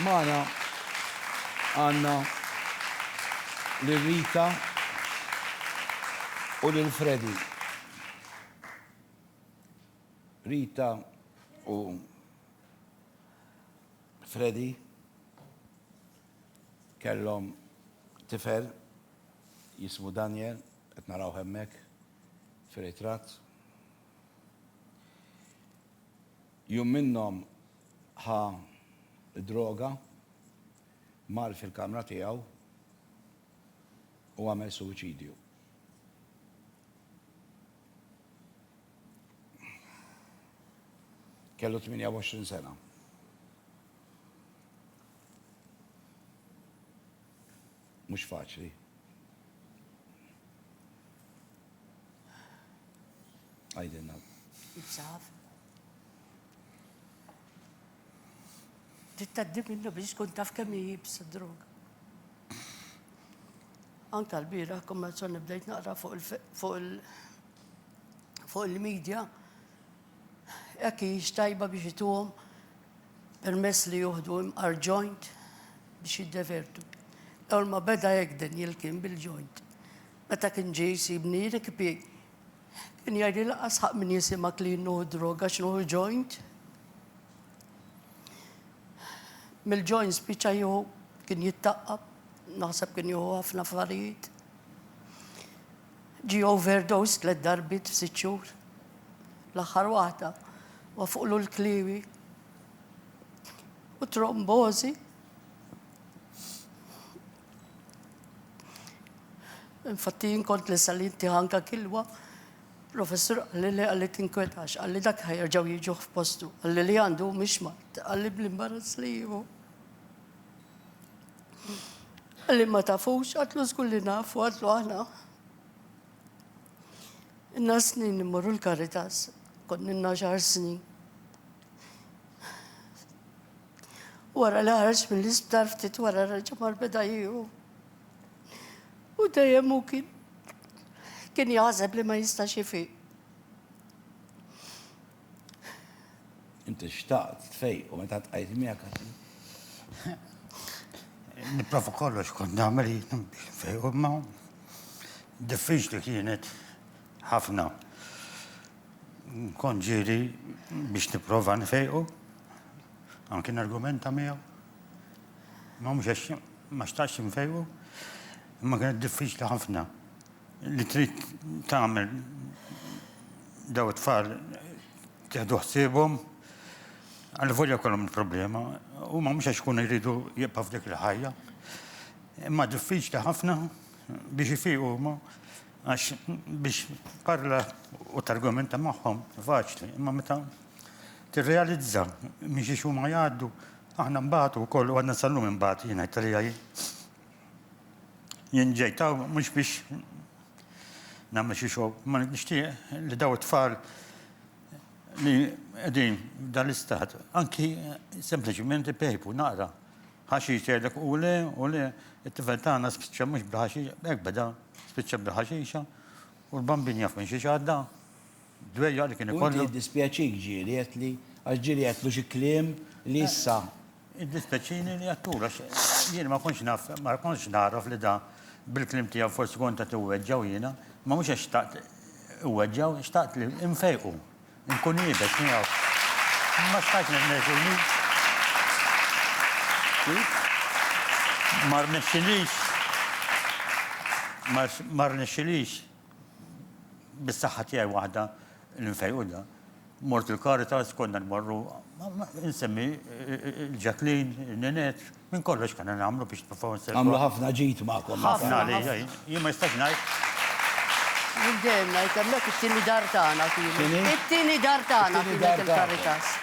Magħna għandna lil Rita u lil Freddy. Rita u Freddy kellhom tifel jismu Daniel, qed narawh hemmhekk fir-ritratt. Jum minnhom ħa d-droga, mar fil-kamra tiegħu u għamel suwiċidju. Kellu 28 sena. Mhux faċli. Għidilna. Insaf. Tittaddi minnu biex tkun taf kemm jibs drog. Anka l-bira, kumma bdejt naqra fuq il- fuq il-medja, Hekk hijiex tajba biex ituhom permess li juħdu imqar joint biex jiddevertu. L-ewwel ma beda Egden jilkien bil-joint. Meta kien ġie jsibni jirikpi, kien jgħidli lanqas ħaqq min jisimgħek li jien nuħu droga għax nuħu joint. Mill-joint spiċċa jieħu kien jittaqqab, naħseb kien jieħu ħafna affarijiet. Ġie overdosed tliet darbiet f'sitt xhur. L-aħħar waħda wafqulu l-kliewi u trombożi. Infatti jien kont lesta li ntiegħ anke kilwa. Professur qalli le qalli tinkwetax, qalli dak ħa jerġgħu jiġuh f'postu, qalli li għandu hu mhix mard, qalli bl-imbarazz li jieħu. Li ma tafux, għatlu zgur li nafu, għatlu għana. Inna snin immorru l-karitas, kon inna xar snin. Wara li ħarġ mill-isptar ftit wara reġa mar beda jiju. U dejjem u kien kien jaħseb li ma jistax jifiq. Inti xtaqt tfejqu meta tqajt miegħek għaxi. Nipprova kollox kont nagħmel fejqu ma diffiċli kienet ħafna. Kont ġieli biex nipprova nfejqu, anki nargumenta miegħu. Ma mhux għax ma xtaqx nfejqu, imma kienet diffiċli ħafna. li trid tagħmel daw it-tfal tieħdu ħsiebhom għal volja kollhom il-problema, huma mhux għax ikunu jridu jibqa' f'dik il-ħajja. Imma diffiċli ħafna biex ifiqu huma għax biex parla u targumenta magħhom faċli, imma meta tirrealizza miex huma jgħaddu aħna mbagħad ukoll u għadna sallum imbagħad jien ngħid Jien ġejt hawn mhux biex nagħmel xi xogħol, ma nixtieq li daw it-tfal li qegħdin dan l-istat, anki sempliċiment ipejpu naqra. Ħaxi jgħidlek u le, u le, it-tifel tagħna spiċċa mhux bil-ħaxi, hekk beda, spiċċa bil-ħaxixa, u l-bambin jaf minn xi xadda. dwejjaq li kien ikollu. U inti jiddispjaċik ġieli għedtli, għax ġieli għedtlu xi kliem li issa. Jiddispjaċini li għedtulu għax jiena ma kontx naf, ma kontx nagħraf li da bil-kliem tiegħu forsi kont qed iweġġgħu jiena, imma mhux għax xtaqt iweġġgħu, xtaqt li nfejqu, nkun iebes miegħu. Ma stajtx nirnexxi. Ma rnexxilix, ma rnexxilix. bis-saħħa tiegħi waħda li nfejqudha, mort il-Caritas, konna nmorru, insemmi l-Ġaklin, in-Ninette, minn kollox kena nagħmlu biex nipprovaw nservu. Għamlu ħafna ġid magħkom. Ħafna għalija, jien ma jistax ngħid. Jien dejjem ngħid hemmhekk it-tieni dar tagħna kienet. It-tieni dar tagħna kienet il-Caritas.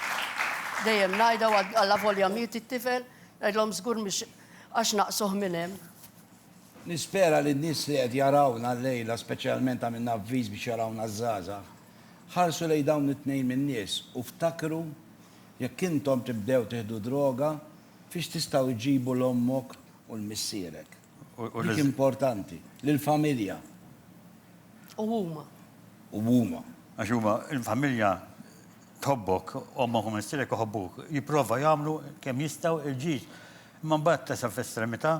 Dejjem ngħidha għal avolja miet it-tifel, ngħidlhom żgur mhix għax naqsuh minn hemm. Nispera li n-nies li qed jarawna llejla, speċjalment għamilna avviż biex jarawna ż-żgħażagħ, ħarsu lejn dawn it-tnejn min-nies u ftakru jekk intom tibdew tieħdu droga fiex tistgħu iġġibu 'l ommok u 'l missierek. Dik importanti. Lill-familja. U huma. U huma. Għax huma, il-familja tħobbok, ommok u missierek iħobbuk, jipprova jagħmlu kemm jistgħu il-ġid. Imma mbagħad tasal fl-estremità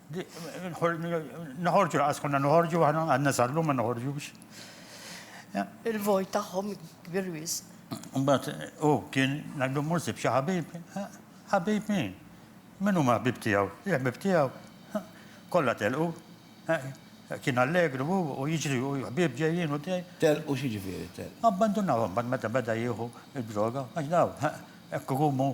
Noħorġu laqas konna noħorġu aħna għandna sallum ma noħorġux. Il-vojt tagħhom kbir wisq. Mbagħad u kien ngħidu mhux sib xi ħabib. Ħabib min? Min huma ħbib tiegħu? Il-ħbib tiegħu kollha telqu. Kien allegru u jiġri u ħbib ġejjin u dej. Telqu xi ġifieri telqu? Abbandunawhom bad meta beda jieħu d-droga għax daw hekk ikumu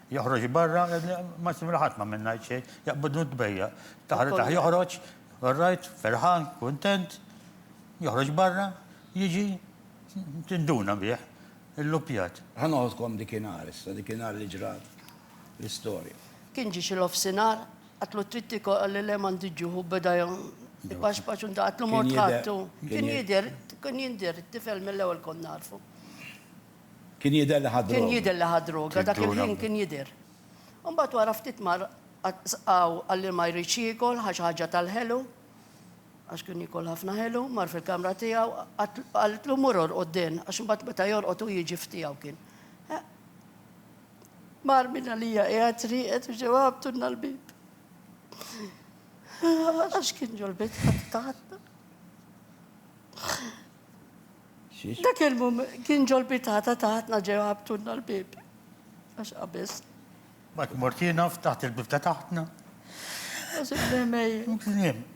Joħroġ barra, ma simra ħadd ma minn ngħid xejn, jaqbidnu tbejja. Taħritaħ joħroġ, orrajt, ferħan, kuntent, joħroġ barra, jiġi tinduna bih, illupjat. Ħa noħodkom dikinhar issa, dikinhar li ġrat l-istorja. Kien ġie xi nofsinhar, għatlu trid tikol, qalli le m'għandi ġuħ u beda ipaxpax u għatlu mort ħadtu. Kien jidher, kien jindher, tifel mill-ewwel kont narfu. Kien jidher li ħa droga. Kien jidher li ħa droga, dak il-ħin kien jidher. Imbagħad wara ftit mar qaw qal li ma jridx jiekol, ħa xi ħaġa tal-ħelu, għax kien jiekol ħafna ħelu, mar fil-kamra tiegħu, qaltlu mur orqod den, għax imbagħad meta jorqod hu jiġi f'tiegħu kien. Mar minn għalija qiegħed rieqed u ġew ħabtulna l-bib. Għax kien ġol-bit taħtna. Dak il-mument kien ġol-pitata ta' ħatna ġew ħabtulna l-bieb. Għax qabeż. Mbagħad mort jien u ftaħt il-bieb ta' taħtna. Għażib li mejjet.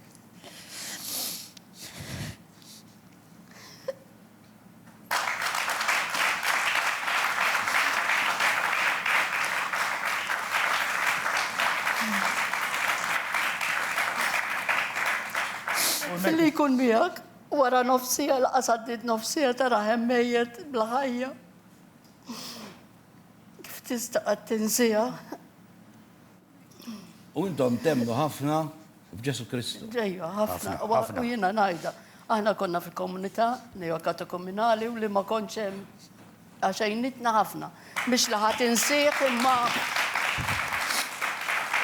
Billi jkun miegħek. Wara nofs siegħa laqas għaddiet nofs siegħa tarahem mejjet bla ħajja. Kif tista' qatt tinsiha? U intom temnu ħafna f'Ġesu Kristu. Ġejja, ħafna. U jiena ngħidha, aħna konna fi komunità neokatokominali u li ma kontx hemm Għax għinitna ħafna. Mhix li ħa tinsih imma.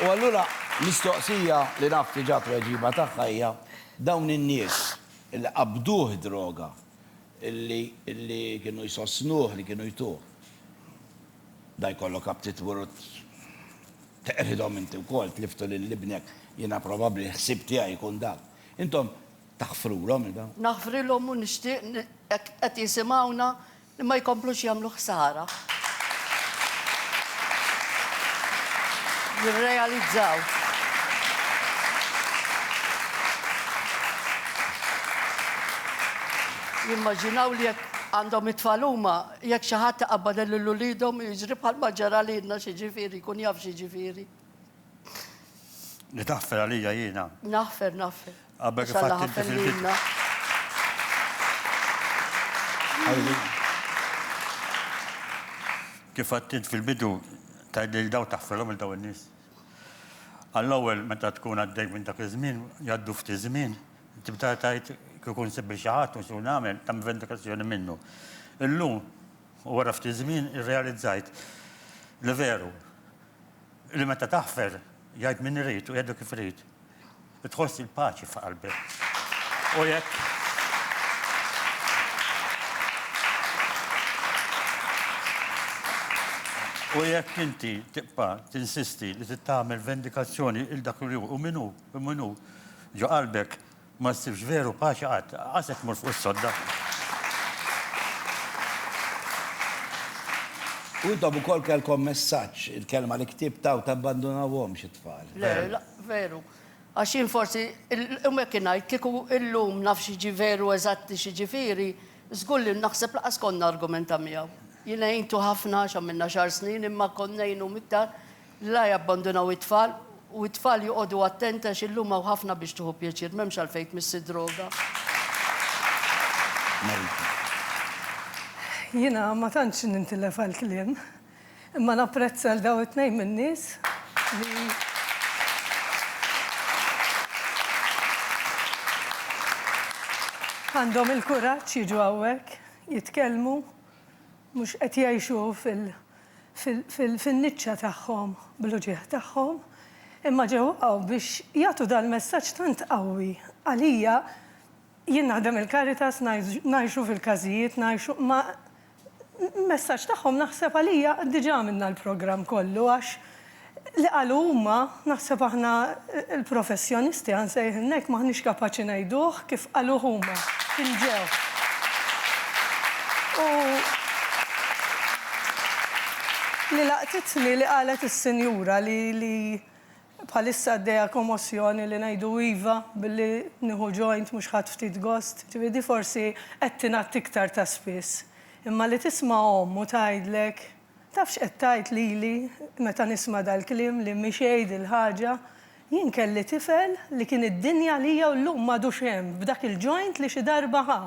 U allura mistoqsija li naf diġà tweġiba tagħha hija dawn in-nies li qabduh id-droga, li li kienu jsostnuh li kienu jtuh. Da jkollok aptit mur u teqridhom inti wkoll, tliftu lil ibnek, jiena probabbli l-ħsieb tiegħi jkun dak. Intom Taħfrulhom iva. Naħfrilhom u nixtieq li jekk qed jisimgħuna li ma jkomplux jagħmlu ħsara. Jirrealizzaw. Jimmaġinaw li jekk għandhom it-tfal huma, jekk xi ħadd iqabbad lil uliedhom jiġri bħalma ġara lilna xi ġifieri, jkun jaf xi ġifieri. Li taħfer għalija jiena. Naħfer, naħfer. Għabek fatt inti fil-bidna. Kif għattint fil-bidu, tajd li daw taħferom il-daw il-nis. Għall-ewwel meta tkun għaddej minn dak iż-żmien, jgħaddu ftit iż-żmien, tibda tgħid kieku nsib xi ħadd u xi nagħmel ta' vendikazzjoni minnu. Illum wara ftit żmien irrealizzajt li veru Li meta taħfer, jgħid min irid u jgħidu kif irid, tħoss il-paċi f'qalbek. U jekk. U jekk inti tibqa' tinsisti li trid tagħmel vendikazzjoni 'l dak li hu u min hu, min hu ġo qalbek, Ma ssibx veru paċi qatt. Qasek tmur fuq is-sodda. U intom ukoll kellkom messaġġ, il-kelma li ktibt hawn, tabbandunawhomx it-tfal. Le, la, veru. Għax jien forsi, u hekk ingħid, kieku illum naf xi jiġi veru eżatti xi jiġifieri, żgur li naħseb lanqas kont nargumenta miegħu. Jien għintu ħafna għax għamilna xahar snin imma kont ngħinu miktar La jabbandunaw it-tfal, u t-tfal joqogħdu attenti għax illum hawn ħafna biex tieħu pjaċir, m'hemmx għalfejn tmissi d-droga. Marita. Jiena ma tantx nintilef għall-kliem, imma napprezza 'l dawn it-tnejn min-nies li għandhom il-kuraġġ jiġu hawnhekk jitkellmu, mhux qed jgħixu fil. fin-niċċa tagħhom bl-uġigħ tagħhom, imma ġewqgħu biex jagħtu dal-messaġġ tant qawwi. Għalija, jien naħdem il-Caritas, ngħixu fil-każijiet, ngħixu, imma l-messaġġ tagħhom naħseb għalija diġà għamilna l-programm kollu għax Li qalu huma, naħseb aħna l-professjonisti, ħa nsejħilna hekk, m'aħniex kapaċi ngħiduh kif qaluh huma, kien ġew. U li laqtitni li qalet is-sinjura li li bħalissa għaddejja komossjoni li ngħidu iva billi nieħu joint mhux ħadt ftit gost, ġifieri di forsi qed tingħadd iktar ta' spiss. Imma li tisma' omm u tgħidlek. Taf x'qed tgħid lili meta nisma' dal-kliem li mhix għid il-ħaġa? Jien kelli tifel li kien id-dinja għalija u llum m'għadux hemm b'dak il-joint li xi darba ħa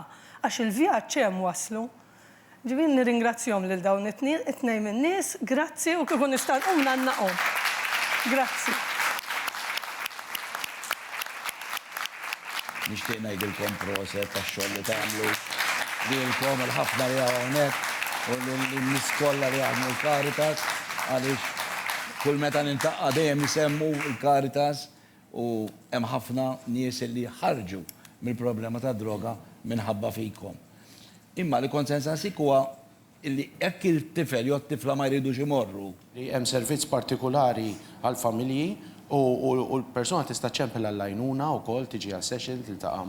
għax il-vjaġġ hemm waslu. Ġifieri nirringrazzjahom lil dawn it-tnejn min-nies, grazzi u kieku nista' nqum ngħannaqhom. Grazzi. Nixtieq ngħidilkom proset tax-xogħol li tagħmlu. Lilkom il-ħafna li hawn hawnhekk u lin-nies kollha li jaħdmu l-Caritas għaliex kull meta niltaqgħa dejjem isemmu l-Caritas u hemm ħafna nies li ħarġu mill-problema tad-droga minħabba fikom. Imma li kont se nsaqsik huwa li jekk it-tifel jew it-tifla ma jridux imorru. li hemm servizz partikulari għall-familji u l-persuna tista' ċċempel għall-għajnuna wkoll, tiġi għal session, tiltaqa'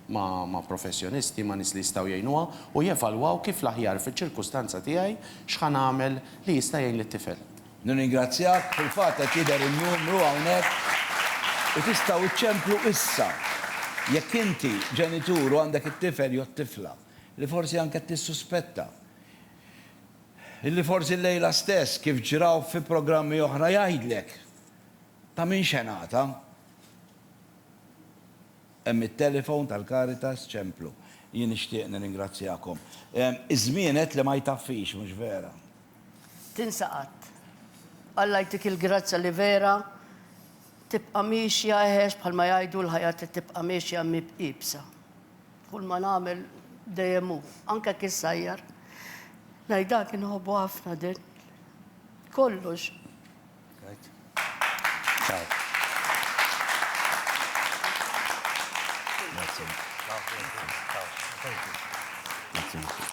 ma' professjonisti, ma' nies li jistgħu jgħinuha u jevalwaw kif l-aħjar fiċ-ċirkustanza tiegħi x'ħa nagħmel li jista' jgħin lit-tifel. Nirringrazzjak, fil-fatt qed jidher in-numru hawnhekk u tistgħu ċċemplu issa jekk inti ġenitur u għandek it-tifel jew it-tifla. li forsi anke tissuspetta li forsi llejla stess, kif ġra fi programmi oħra jgħidlek ta' min xenata. Hemm it-telefon tal-Caritas Ċemplu. Jien nixtieq nirringrazzjakom. Iż-żmien għedt li ma jtaffix, mhux vera? Tinsa qatt. Alla jtik il-grazzja li vera tibqa' miexja eħex bħalma jgħidu l-ħajja trid tibqa' miexja iebsa. Kull ma nagħmel dejjem hu, anke jekk issajjar. Ngħidha kien nħobbu ħafna din. Kollox. Grazie.